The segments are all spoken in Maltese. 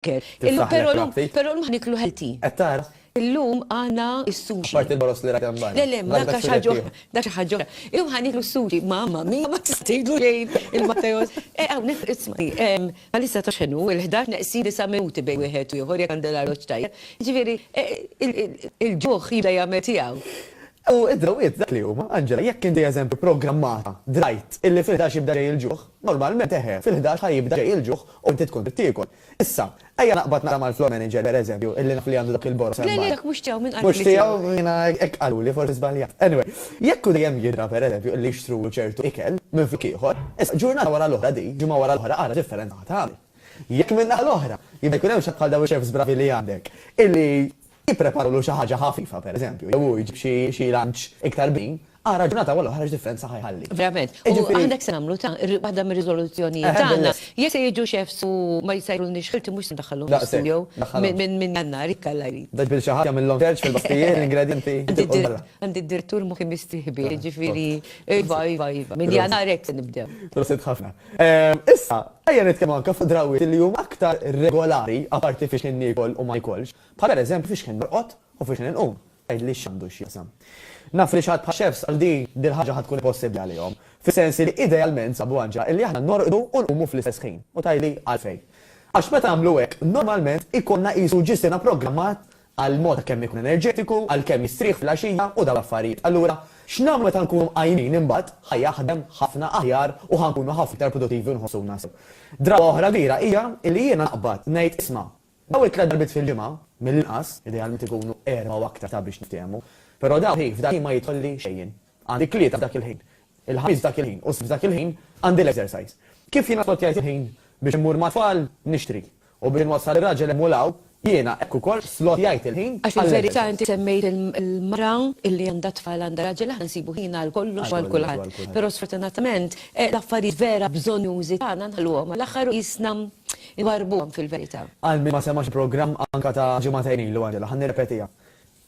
Illum però llum però llum ħa niklu healthy. Qed tara? Illum għandna s-sushi. Apparti l-boroż li rajt hemm barra. Le le, ma dak xi ħaġa oħra, dak xi ħaġa oħra. Illum ħa niklu s-sushi. Mamma mia ma tista' tgħidlu xejn il-Matteos. Eh hawnhekk isma', ehm, bħalissa taf x'inhu, il-ħdax neqsin disa' minuti bejn wieħed u ieħor jekk għandi l-arloġġ tajjeb. Jiġifieri, il-ġuħ jibda jagħmel tiegħu. U d-drawwiet dak li huma, Angela, jekk inti eżempju programmata, drajt, illi fil-ħdax jibda ġej il-ġuħ, Normalment eħe, fil-ħdax ħa jibda ġej il-ġuħ u inti tkun trid tiekol. Issa, ejja naqbad naqra mal-floor manager per eżempju, illi naf li għandu dak il-boroż hemm barra. Le le dak mhux tiegħu min qalek li tiegħu? Mhux tiegħu? Jiena hekk qaluli, forsi żbaljat. Anyway, jekk hu dejjem jidra per eżempju illi jixtru ċertu ikel minn flok ieħor, issa ġurnata wara l-oħra di, ġimgħa wara l-oħra ara differenza ħa tagħmel. Jekk min-naħa l-oħra, jibda jkun hemm xi ħadd bħal dawn ix-chefs bravi li għandek, illi jippreparulu xi ħaġa ħafifa per eżempju, jew hu jġib xi lunch iktar bnin, Ara ġurnata wara l-oħra x'differenza ħa jħalli. Verament. U għandek se nagħmlu ta' waħda mir-riżoluzzjonijiet tagħna. Jekk se jiġu x'efsu ma jsajrulniex ħilti mhux se ndaħħalhom fl-istudio minn Jannar, jekk Alla jrid. Bda ġbir xi ħadd jagħmilhom search fil-basktijiet, l-ingredjenti jitilqu l-barra. Għandi d-direttur moħħi mistieħbi, jiġifieri iva, iva, iva. Minn Jannar hekk se nibdew. Prosit ħafna. Issa, ejja nitkellmu anke fuq drawwiet li huma aktar regolari, apparti fiex kien niekol u ma niekolx, bħal pereżempju fiex kien norqod u fiex kien inqum. Għidli x'għandu x'jaqsam. Naf li xi ħadd bħal Chefs għal din, dil-ħaġa ħa tkun impossibbli għalihom. Fis-sens li idealment sabu għaġġa illi aħna norqdu u nqumu fl-istess ħin. U tgħidli għalfejn. Għax meta nagħmlu hekk, normalment ikollna qisu ġisina programmat għal mod ta' kemm ikun enerġetiku, għal kemm jistrieħ fil-għaxija u dawn l-affarijiet. Allura, x'nagħmlu meta nkunu mqajmin imbagħad ħa jaħdem ħafna aħjar u ħa nkunu ħafna iktar produttivi u nħossuna sew. Drawa oħra kbira hija illi jiena naqbad ngħid isma', Dawn it-tliet darbiet fil-ġimgħa, mill-inqas, idealment ikunu erbgħa u aktar sabiex niftehmu, però dawn hi f'dan il-ħin ma jidħolli xejn. Għandi t-Tlieta f'dak il-ħin, il-Ħamis f'dak il-ħin u s-Sibt f'dak il-ħin għandi l-exercise. Kif jiena splotjajt il-ħin biex immur mat-tfal nixtri u biex inwassal ir-raġel hemm u 'l hawn, jiena hekk ukoll splotjajt il-ħin għall-exercise. Għax fil-verità inti semmejt il-mara li għandha t-tfal għandha raġel, aħna nsibu ħin għal kollox u għal kulħadd, però sfortunatament l-affarijiet vera bżonnjużi tagħna nħalluhom għall-aħħar u qisna iwarrbuhom fil-verità. Għal min ma semax programm anka ta' ġimagħtejn ilu Angela, ħa nirrepetiha.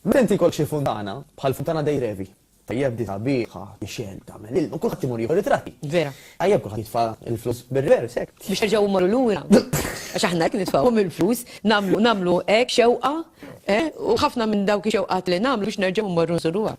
Meta inti jkollok xi funtana, bħal funtana dei Trevi, tajjeb di sabiħa, tixgħel, tagħmel ilma, kulħadd imur jieħu ritratti. Vera. Tajjeb kulħadd jitfa' l-flus bir-revers hekk. Biex nerġgħu mmorru lura. Għax aħna hekk nitfgħuhom il-flus, nagħmlu nagħmlu hekk xewqa, eh, u ħafna minn dawk ix-xewqat li nagħmlu biex nerġgħu mmorru nżuruha.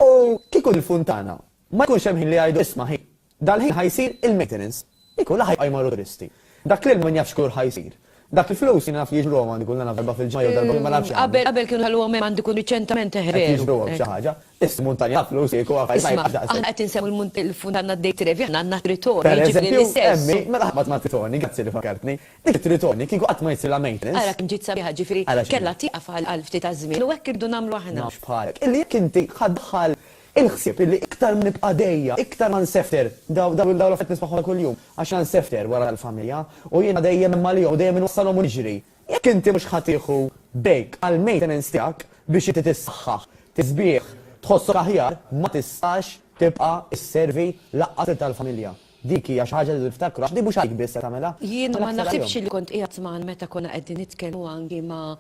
U kieku l-funtana Ma jkunx hemm ħin li jgħidu isma' ħin. Dal-ħin ħa jsir il-maintenance. Kieku la ħa jibqa' jmorru turisti. Dak l-ilma min jaf x'kulur ħa jsir. Dak il-flus jiena naf li jiġbruhom għandi kull naf darba fil-ġimgħa jew darba ma nafx għandi. Qabel kienu ħalluhom hemm għandi kull riċentament eh veru. Qed jiġbruhom xi ħaġa. Is muntanja ta' flus kieku għaf ma jibqax daqshekk. Isma' aħna qed insemmu l-munt għandna d-Dei Trevi aħna għandna t-Tritoni jiġifieri l-istess. Per eżempju hemm min mela ħabat mat-Tritoni grazzi li fakkartni. Dik it-Tritoni kieku qatt ma jsirlha maintenance. Ara kemm ġiet sabiħa ġifieri kellha tieqaf għal ftit għaż-żmien u hekk irridu nagħmlu aħna. Nafx bħalek. Illi jekk inti ħa ddaħħal Il-ħsieb li iktar ma nibqa' għadejja, iktar ma nsefter, dawn l-affarijiet nismagħhom ta' kuljum, għax jiena nsefter wara l-familja, u jiena dejjem hemm għalihom u dejjem inwassalhom u niġri. Jekk inti mhux ħa tieħu break għall-maintenance tiegħek biex inti tissaħħaħ, tisbieħ, tħossok aħjar, ma tistax tibqa' sservi lanqas lil tal-familja. Dik hija xi ħaġa li rridu niftakru għax din mhux għalik biss se tagħmilha. Jiena ma naħsibx li kont qiegħed magħna meta konna qegħdin nitkellmu anki ma'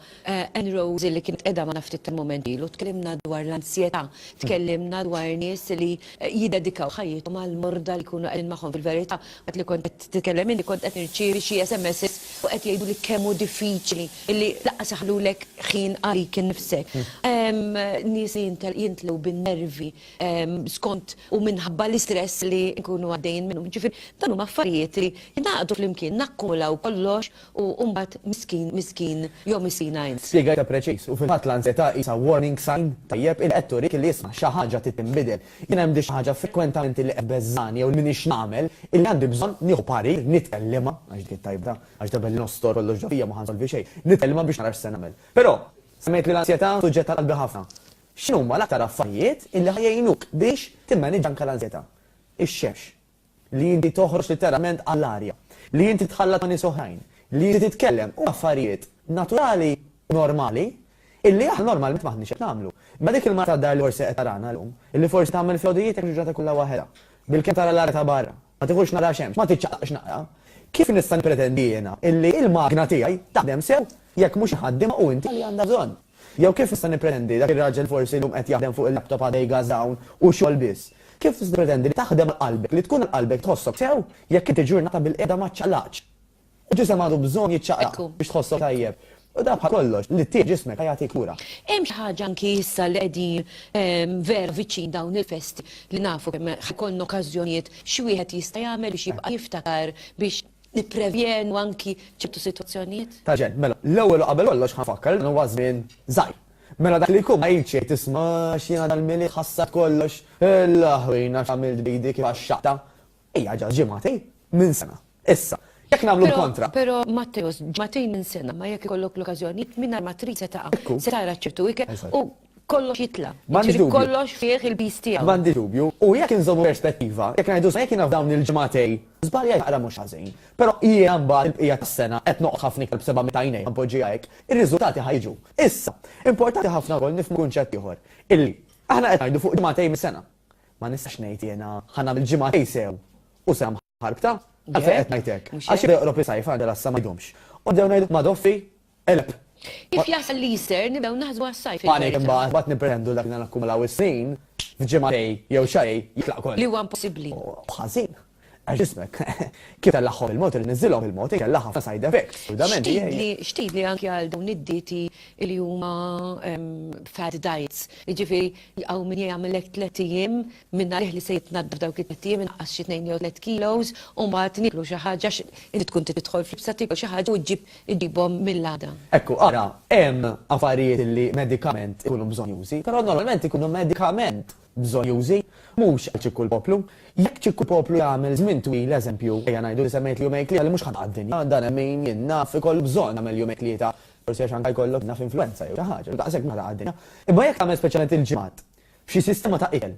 Ann Rose li kienet qiegħda magħna ftit tal-mument ilu, tkellimna dwar l-anzjetà, tkellimna dwar nies li jiddedikaw ħajjithom għall-morda li jkunu qegħdin magħhom. Fil-verità, waqt li kont qed titkellem inti kont qed nirċievi xi SMSs u qed jgħiduli kemm hu diffiċli li lanqas iħallulek ħin għalik innifsek. Hemm nies li jintlgħu bin-nervi skont u minħabba l-istress li nkunu għaddejjin minnu. Ġifieri dan huma affarijiet li jingħaqdu flimkien, nakkumulaw kollox u mbagħad miskin, miskin jew miskina int. Spjegajtha preċiż, u fil-fatt l-anżjetà qisha warning sign tajjeb illi qed turik illi isma' xi ħaġa trid tinbidel. Jiena għandi xi ħaġa frekwentament illi qed tbeżżagħni jew li m'iniex nagħmel illi għandi bżonn nieħu parir, nitkellimha, għax dik it-tajba, għax darb'hekk li nostor kollox ġo fija ma ħa nsolvi xejn, nitkellimha biex nara x'se nagħmel. Però, semmejt li l-anżjetà suġġett ta' qalbi ħafna. X'inhuma l-aktar affarijiet illi ħa jgħinuk biex timmaniġġa anke l-anżjetà? Ix-xemx. Li inti toħroġ litteralment għall-arja. Li inti titħallat ma' nies oħrajn. Li inti titkellem. Huma affarijiet naturali u normali illi aħna normalment m'aħniex qed nagħmlu. Imma dik il-mara tad-dar li forsi qed tarana llum, illi forsi tagħmel fl-għodujiet hekk il-ġurnata kollha waħedha, bilkemm tara l-arja ta' barra, Ma tidħolx nara xemx, ma tiċċaqlaqx naqra. Kif nista' nippretendi jiena illi il-magna tiegħi taħdem sew jekk mhux iħaddimha u inti li għandha bżonn? Jew kif nista' nippretendi dak ir-raġel forsi llum qed jaħdem fuq il-laptop għada jgażża hawn u xogħol biss? Kif tista' tippretendi li taħdem għal qalbek, li tkun għal qalbek tħossok sew jekk inti ġurnata bilqiegħda ma ċċaqlaqtx? Il-ġisem għandu bżonn jiċċaqlaq biex tħossok tajjeb. U dan bħal kollox, li ttiegħi ġismek ħajagħtik kura. Hemm xi ħaġa anki issa li qegħdin vera viċin dawn il-festi li nafu kemm ħajkollna okkażjonijiet xi wieħed jista' jagħmel biex jibqa' jiftakar biex nipprevjenu anki ċertu sitwazzjonijiet? Taġen, mela, l-ewwel u qabel kollox ħanfakkar li dan huwa żmien żgħir. Mela dak li jkun ma jgħidx jgħid isma' x'jiena dal-Milied ħassart kollox, il-laħwina x'għamilt b'idi kif għaxxaqtha. Hija ġast ġimgħatejn minn sena. Issa, jekk nagħmlu l-kontra. Però Matteus, ġimgħatejn minn sena ma jekk ikollok l-okkażjoni mingħajr ma trid se taqa', se tara ċertu ikel u kollox jitla'. Jiġifieri kollox fih il-piż tiegħu. M'għandi dubju. U jekk inżommu perspettiva, jekk ngħidu sa jekk jiena f'dawn il-ġimgħatejn żbaljajt naqra mhux ħażin, però jiena mbagħad il-bqija tas-sena qed noqgħod ħafna ikel b'seba' meta għajnejja, npoġġiha hekk, ir-riżultati ħa jiġu. Issa, importanti ħafna wkoll nifhmu kunċett ieħor, illi aħna qed ngħidu fuq ġimgħatejn minn sena. Ma nistax ngħid jiena ħa nagħmel ġimgħatej sew u se ħarbta. Għalfejn qed ngħid hekk? Għax jibda joqrob is-sajf għandi l-għassa ma jdumx. U nibdew ngħidu ma' Doffi, eleb. Kif jasal l-Easter nibdew naħsbu għas-sajf. Panik imbagħad, imbagħad nippretendu dak li nagħna nakkumulaw is-snin, f'ġimgħatej jew xarej jitlaq kollu. Li huwa impossibbli. U ħażin. Għax ġismek, kif itellagħhom il-mod irid niżżilhom il-mod inkella ħafna side effects, xurdament jgħid. X'tgħidli anki għal dawn id-dieti li huma fad diets, jiġifieri hawn min jagħmilek tliet ijiem mingħajr li se jitnaddaf dawk it-tliet ijiem inaqqas xi tnejn jew tliet kilos u mbagħad nieklu xi ħaġa għax inti tkun trid tidħol f'libsa tiekol xi ħaġa u ġġib iġibhom mill-għada. Ekku, ara, hemm affarijiet li medikament ikunu bżonnjużi, però normalment ikunu medikament bżonjużi, mhux għal ċikku l-poplu. Jekk ċikku poplu jagħmel żmien twil, eżempju, ejja ngħidu li se mejtli jumejn tlieta li mhux ħa taqa' d-dinja, dan hemm min, jien naf, ikollu bżonn jagħmel jumejn tlieta, forsi għax anke jkollok naf influwenza jew xi ħaġa, u daqshekk ma taqa' d-dinja. Imma jekk tagħmel speċjalment il-ġimgħat xi sistema ta' ikel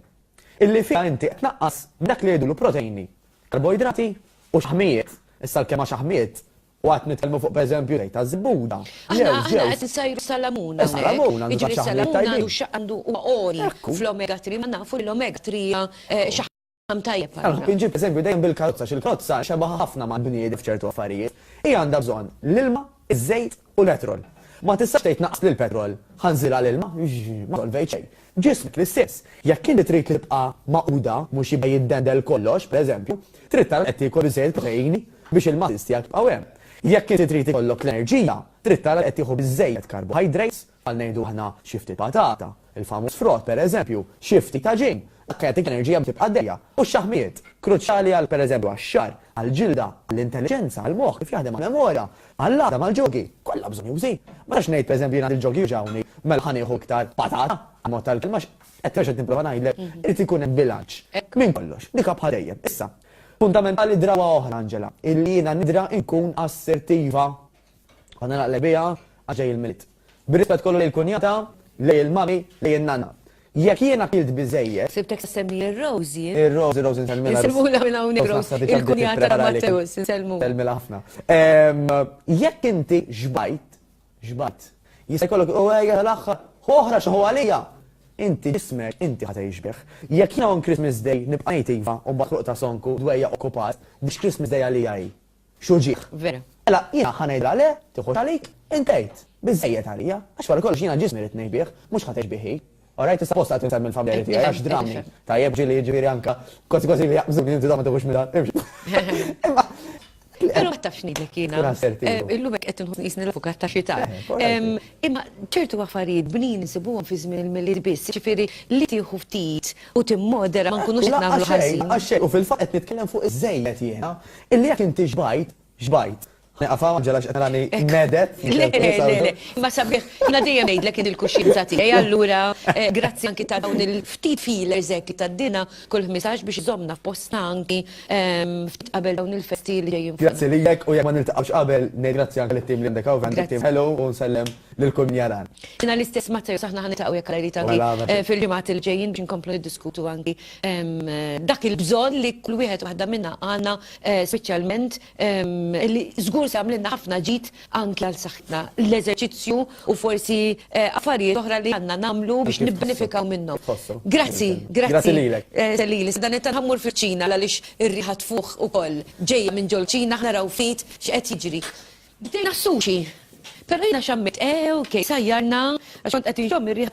illi fiha inti qed tnaqqas dak li jgħidulu proteini, karboidrati u xaħmijiet, issa l-kelma xaħmijiet, U qed nitkellmu fuq pereżempju żejt taż-żebbuda. Aħna aħna qed insajru salamun hawnhekk. Salamun għandu xi ħaġa tajba. Għandu xi għandu huwa għoli fl-omega 3 ma nafu li l-omega 3 hija xi ħaġa tajjeb għalina. Nħobb inġib eżempju dejjem bil-karozza għax il-karozza xebgħa ħafna mal-bniedem f'ċertu affarijiet. Hija għandha bżonn l-ilma, iż-żejt u l-petrol. Ma tistax tgħid naqqas li l-petrol, ħa nżilha l-ilma, ma solvejt xejn. Ġismek l-istess. Jekk inti trid tibqa' magħquda mhux jibqa' jiddendel kollox, pereżempju, trid tara qed tiekol iżejjed proteini biex il-muscles tiegħek jibqgħu hemm. Jekk inti trid ikollok l-enerġija, trid tara li qed tieħu biżżejjed carbohydrates, bħal ngħidu aħna xi ftit patata, il-famuż frott pereżempju, xi ftit għaġin, dak jagħtik enerġija biex tibqa' għaddejja, u x-xaħmijiet, kruċjali għal pereżempju għax-xagħar, għall-ġilda, għall-intelliġenza, għall-moħħ kif jaħdem, għall-memorja, għall-għadam, għall-ġogi, kollha bżonjużi. Ma nistax ngħid pereżempju jien għandi l-ġogi jwġgħuni, mela ħa nieħu iktar patata, ammont tal-kelma, qed terġa' nipprova ngħidlek, irid ikun hemm bilanċ minn kollox, dik bħal dejjem. Issa, Fundamentali drawa oħra, Angela, hi li jiena nidra nkun assertiva. Konna naqleb biha għax ġej il-Milied. Bir-rispett kollu lejn il-kunjata, lejn il-mami, lejn in-nanna. Jekk jiena kilt biżżejjed. Sibtek issemmi ir-Rosie. Ir-Rosie, Rosie nsellmilha. Insellmulha minn hawnhekk Rosie, il-kunjata ta' Matteus, insellmulha. Nsellmilha ħafna. Jekk inti xbajt, Xbajt. Jista' jkollok, u ejja l-aħħar, hu oħra xi hu għalija! Inti ġismek, inti ħa tgħix bih. Jekk jiena on Christmas Day nibqa' ngħid iva u mbagħad ħruq ta' sonku, dwejjaq u kupas, biex Christmas Day għalija hi. Xi uġigħ! Vera. Mela jiena ħa ngħidilha le, tieħux għalik, int għid. Biżżejjed għalija. Għax wara kollox jiena ġismi rrid ngħix bih, mhux ħa tgħix bih hi. Orajt issa apposta qed insemmi l-familjari tiegħi għax drammi. Tajjeb ġieli jiġifieri anke kważi kważi li jaqbżuni inti dawn ma tieħux minn dan. Imma Pero ma tafx nidlek jina. Eh, illum hekk qed inħoss nisni l-avukat ta' xita. Eh, imma ċertu affarijiet bnin insibuhom fi żmien il-milied biss, ġifieri li tieħu ftit u timmodera ma nkunux qed nagħmlu ħażin. U fil-fatt qed nitkellem fuq iż-żejjed jiena, illi jekk inti xbajt Xbajt. Nieqaf hawn Angela x'qed narani medet. Le, le, le, imma sabiħ, jiena dejjem ngħidlek kien il-kuxjenza tiegħi allura eh, grazzi anki ta' dawn il-ftit feelers hekk ta' dina kull ħmisax biex żommna f'postna anki ehm, ftit qabel dawn il-festi li ġejjin. Grazzi lilek u jekk ma niltaqgħux qabel ngħid grazzi anke lit-tim li għandek hawn għandek tim ħelu u nsellem lil kull min jaran. Jiena l-istess Matteo saħna ħan nitaqgħu jekk rajt anki mela, mela. eh, fil-ġimgħat il-ġejjin biex nkomplu niddiskutu anki ehm, dak il-bżonn li kull wieħed waħda minna għandna speċjalment li żgur se jagħmlilna ħafna ġid anki għal saħħitna, l-eżerċizzju u forsi affarijiet oħra li għandna nagħmlu biex nibbenefikaw minnhom. Kif tħossu? Grazzi, grazzi. Grazzi lilek. Se lili, se dan it-talb ħammur fiċ-Ċina għaliex ir-riħa tfuħ ukoll. Ġejja minn ġol Ċina ħa naraw ftit x'qed jiġri. Bdejna s-sushi, però jiena xammejt, ew, kif sajjarna għax kont qed inxomm ir-riħa.